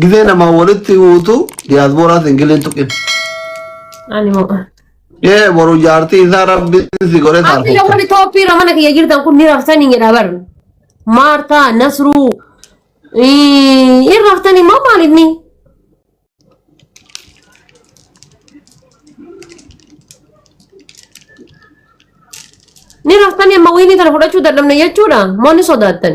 Gizee namaa walitti himuutu diyaasbooraas hin giliin tuqin. Ani moo. Ee boru jaartii isaa rabbiin si godhee Abbi taarfata. lafarri tooppii irra mana kiyya jirtan kun ni raftanii jedha bar. Maartaa, Nasruu. ii, Hin raftanii moo maaliif ni? Ni raftanii amma wiinii tana fudhachuu dadhabne jechuudha. Moo ni sodaattan?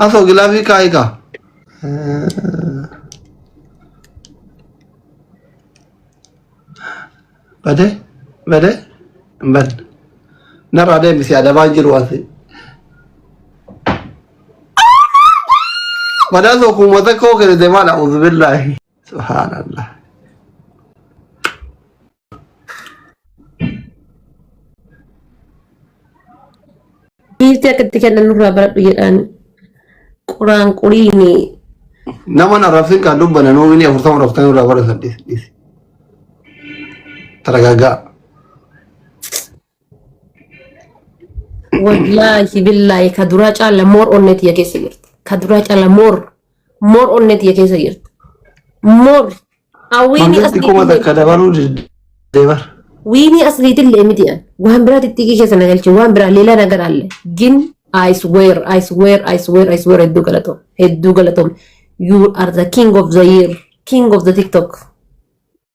Hafoo gilaafii kaa'ii kaa. Bade bade bad narraa deemisi adabaa jiru asi. Badaa soo kuuma tokkoo kennite maadha uzbillaahi. Subhaanallah. Giiftii akka itti kennan nurraa baradhu jedhaan quraan quriini. Nama na rafin kan dubbana nuu bini afurtama raftan irraa bara saddeet dhiisi. Taragaagaa. Wallaahi billaahi ka duraa caala moor onnee tiyya keessa jirti. Ka duraa caala moor moor onnee tiyya keessa jirti. Moor hawwiini Mangisti asliitii kuma illee takka dabaluu deebar. wiinii asliitii illee miti an waan biraa xixiqqii keessa na galche waan biraa leelaa na garaalle gin I swear I swear I swear I swear hedduu galatoom hedduu galatoom you are the king of the year king of the tiktok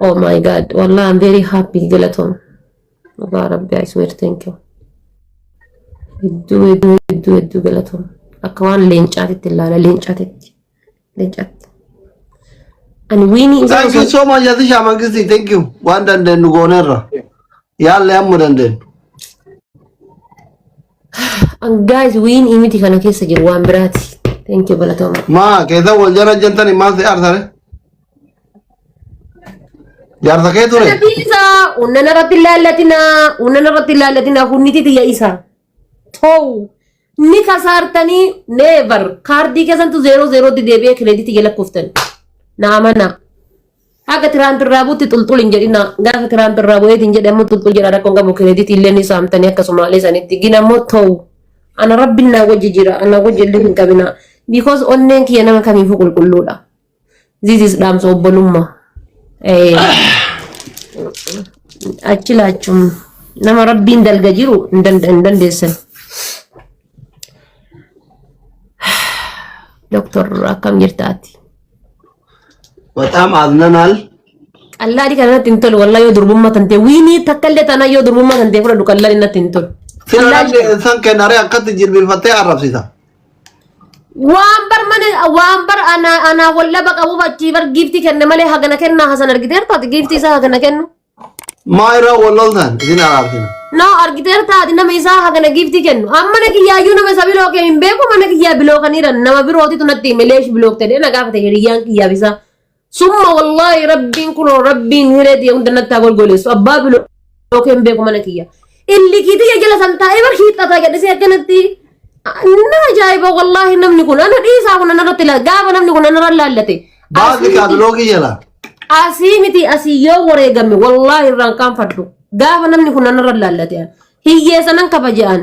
Oh my god. Wallah, I'm very happy. Galatom. Dhugaa Rabbi, I swear, thank you. Hedduu, hedduu, hedduu, hedduu galatom. Akka waan leencaatitti ilaala, leencaatitti. Leencaatti. Ani wiinii isaa Thank you osoo... so much Atisha Mangisti. Thank you. Waan dandeenyu gooneerra. Yaallee amma dandeenyu. Guys, wiin imiti kana keessa jiru waan biraati. Thank you galatooma. Maa keessa wal jala jantani maa si arsare? Jaarsa kee ture? Rabbi isa unnana irratti ilaallatina unnana irratti ilaallatina hunniti tiyya isa ta'u ni kasaartanii neevar kaardii keessantu zeeroo zeerootti deebi'ee kireeditii jala kuftani naamana Haga Tiraamp irraa buutti xulxul hin jedhina. Gaafa Tiraamp irraa bu'eeti hin jedhe ammoo xulxul jedha rakkoon qabu kireeditii illee ni saamtanii akka Somaalee sanitti gina ammoo ta'u. Ana rabbiin naa wajji jira ana wajji illee hin qabina. Because onneen kiyya nama kamiifuu qulqulluudha. This is dhaamsa obbolummaa. Eh, Achi laachuun nama rabbiin dalga jiru hin danda- hin dandeessan. Doktor akkam jirtaati? በጣም አዝነናል። Qallaadhi kana natti hin tolu wallahi yoo durbummaa tantee wiinii takka illee taanaa yoo durbummaa tantee fudhadhu qallaadhi natti hin tolu. Qallaadhi Sinaralli insan kenare akkatti jilbifattee arrabsita. waan bar mana waan bar anaa anaa wallaba qabuuf achii bar giiftii kenne malee hagana kennaa hasan argiteertu ati giiftii isaa hagana kennu. Maa irraa wal loltan isin araartina. No argiteer taati nama isaa hagana giiftii kennu. Amma na kiyyaayyuu nama isa biloo kee hin beeku mana kiyyaa biloo kan jiran nama birootitu natti hime leesh biloo ta'e na gaafate hiriyyaan kiyyaaf isaa. Summa wallaahi rabbiin kunoo rabbiin hiree ta'e hunda natti haa golgoleessu abbaa biloo kee hin beeku mana kiyyaa. Illikii tiyya jala san taa'ee bar hiixxataa gadhisee akkanatti. Na ajaa'iba wallaahi namni kun ana dhiisaa kun anarratti ilaala gaafa namni kun anarra ilaallate. Baasii kaatiloogii jala. Asii miti asii yoo wareegame wallaahi irraan kaanfadhu gaafa namni kun anarra ilaallate hiyyeessanan kabaja'an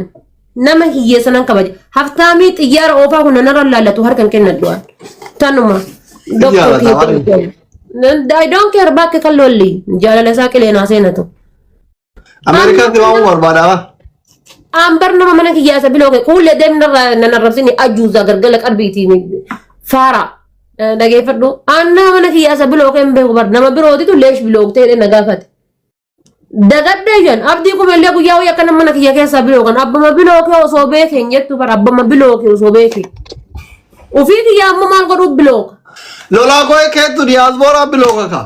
nama hiyyeessanan kabaja haftaamii xiyyaara oofaa kun anarra ilaallatu harkan kennadhu'an tanuma. Xiyyaara taa'anii. I don't care bakke kan lolli jaalala isaa qileenaa seenatu. Ameerikaatti waan barbaadama. Ambar nama mana kiyyaa isa biloo kee kuullee deemni narraa nan arrabsini ajuuza gargala qarbiitiin faara dhageeffadhu. Aan nama mana kiyyaa isa biloo kee hin beeku bar nama birootitu leesh biloo ta'ee na gaafate. Dagadhee jiran abdii kumeellee guyyaa wayii akka nama mana kiyya keessaa biloo kan abbama biloo kee osoo beekee hin jettu bar abbama biloo kee osoo beekee. Ofii kiyyaa ammoo maal godhuu biloo ka. Lolaa koo keettu diyaasbooraa biloo kaka.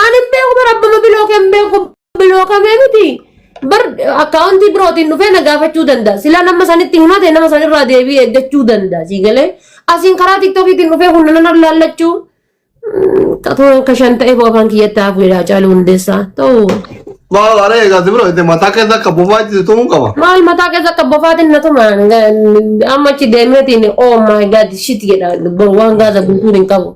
Ani hin beeku bara abbama bilooke hin beeku bilookame miti. Bar akkaawuntii birootiin dhufee na gaafachuu danda'a. Silaa nama sanitti himate nama sanirraa deebii eeggachuu danda'a. Sii galee asiin karaa tiktookiitiin dhufee kun nan laallachuu. Xatoo akka shan ta'eef afaan kiyyatti hafuudha caaluu hundeessaa. Ta'u Maal aree egaa si bira itti mataa keessa akka bofaa itti tumuu qaba. maal mataa keessa akka bofaatiin na tuma amma achi deemeetiin oh my god shit jedha waan gaasa guutuun hin qabu.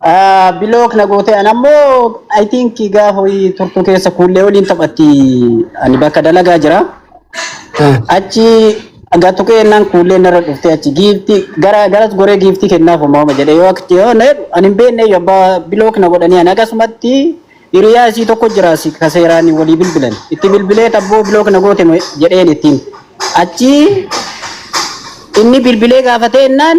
Ah, Bilook na gootee an ammoo I think gaafa ho'i turtuu keessa kuullee waliin taphatti ani bakka dalagaa jira. Eh, Achi gatu keennan kuullee narra dhuftee achi giifti gara garas goree giifti kennaaf uumama jedhee yoo akti yoo na jedhu ani hin beekne yoo abbaa bilook na godhanii ani akkasumatti hiriyaa isii tokko jira si kaseeraan walii bilbilan itti bilbilee tabboo bilook na goote mo- jedheen ittiin achi inni bilbilee gaafatee innaan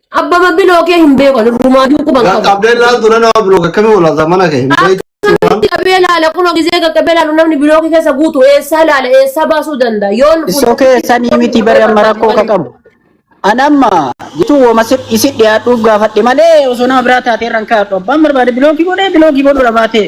Abbaba biloo kee hin beeku ani ruumaaduu quban qabu. Qaqqabdee ilaaltu na nama biloo akkamii olaata mana kee hin beektu. Akkamitti qabee laala kunoo gizee qaqqabee laalu namni biloo kee keessa guutu eessaa laala eessaa baasuu danda'a yoon Isoo keessanii miti bari amma rakkoo ka qabu. An amma jituu woma isi dhiyaadhuuf gaafadhe malee osoo nama biraa taatee irraan kaa'adhu. Abbaan barbaade bilookii godhee bilookii godhuudha baatee.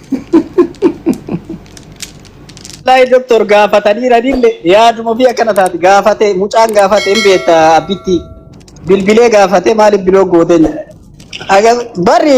Wallahi doktor gaafataniiranille yaaduma fi akkana taati gaafate mucaan gaafate hin beekta abbitti bilbilee gaafate maaliif biloo gooteen jedha. Aga- Barri